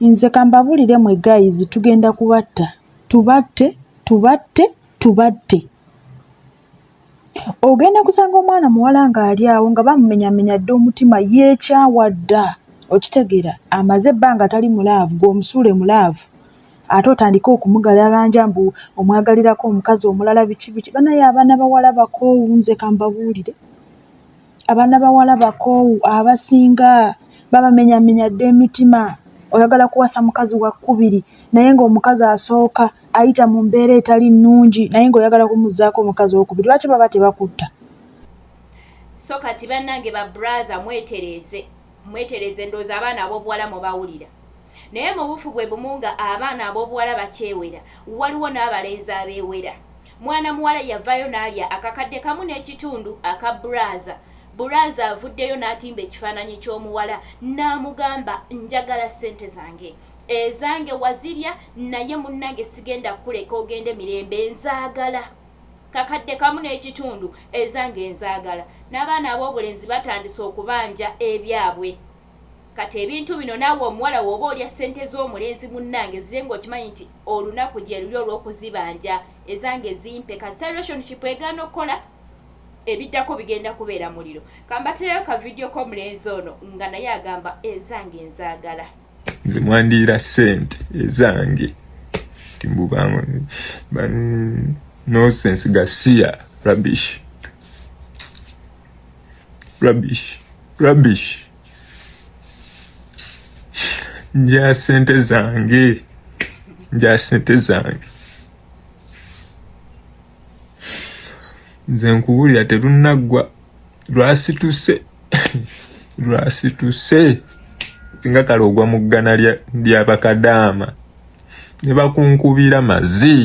Nze kambabulire mwe guys tugenda kubatta tubatte tubatte tubatte ogenda kusanga omwana muwala ng'ali awo nga bamumenyamenya dda omutima yeekyawa dda okitegeera amaze ebbanga tali mulaavu gweomusuule mulaavu ate otandike okumugalalanja mbu omwagalirako omukazi omulala biki biki banaye abaana bawala bakoowu nze kambabuulire abaana bawala bakoowu abasinga babamenyamenya dda emitima oyagala kuwasa mukazi wakkubiri naye ng'omukazi asooka ayita mu mbeera etali nnungi naye ng'oyagala kumuzzaako omukazi owokubiri lwaki baba tebakutta so kati bannange ba brother mwetereeze mwetereeze ndowooza abaana ab'obuwala mubawulira naye mu buufu bwe bumu nga abaana ab'obuwala bakyewera waliwo n'abalenzi abeewera Mwana muwala yavaayo n'alya akakadde kamu n'ekitundu aka bbulaaza. Bbulaaza avuddeyo n'atimba ekifaananyi ky'omuwala n'amugamba, Njagala ssente zange. Ezange wazirya naye munnange sigenda kukuleka ogende mirembe. Nzaagala kakadde kamu n'ekitundu. Ezange nzaagala. N'abaana ab'obulenzi batandise okubanja ebyabwe. Kati ebintu bino naawe omuwala wooba olya ssente z'omulenzi munnange zirye ng'okimanyi nti olunaku gyeruli olw'okuzibanja, ezange zimpe kasita relationship egaana okukola ebiddako bigenda kubeera muliro. Kambatereyo ka video k'omulenzi ono nga naye agamba ezange nzaagala. Nze mwandiyira ssente ezange nti mbu nonsense gasiya rubbish. rubbish rubbish nja sente zange nja sente zange nze nkubulira terunaggwa lwasituse lwasituse singa kale ogwa mu ggana lya bakadaama ne bakunkubira mazi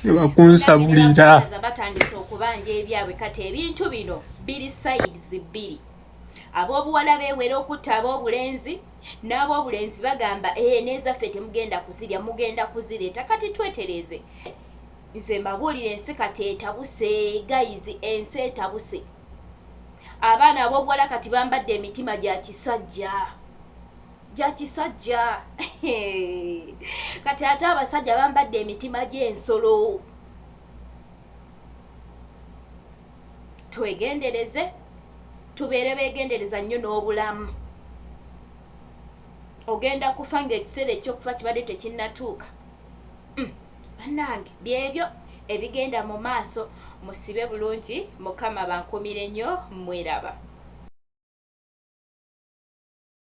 ne bakunsabulira batandise okubanja ebyabwe kati ebintu bino biri sayizi bbiri ab'obuwala beewera okutta ab'obulenzi n'ab'obulenzi bagamba ee eh, n'ezaffe temugenda kuzirya mugenda kuzireeta kati twetereeze nze mbabuulira ensi kati etabuse gayizi ensi etabuse abaana ab'obuwala kati bambadde emitima gya kisajja Jakisajja eeh kati ate abasajja bambadde emitima gyensolo twegendereze tubeere begendereza nnyo n'obulamu ogenda kufa ng'ekiseera ekyokufa kibadde tekinnatuuka mm, banange byebyo ebigenda mu maaso musibe bulungi mukama bankumire nnyo mweraba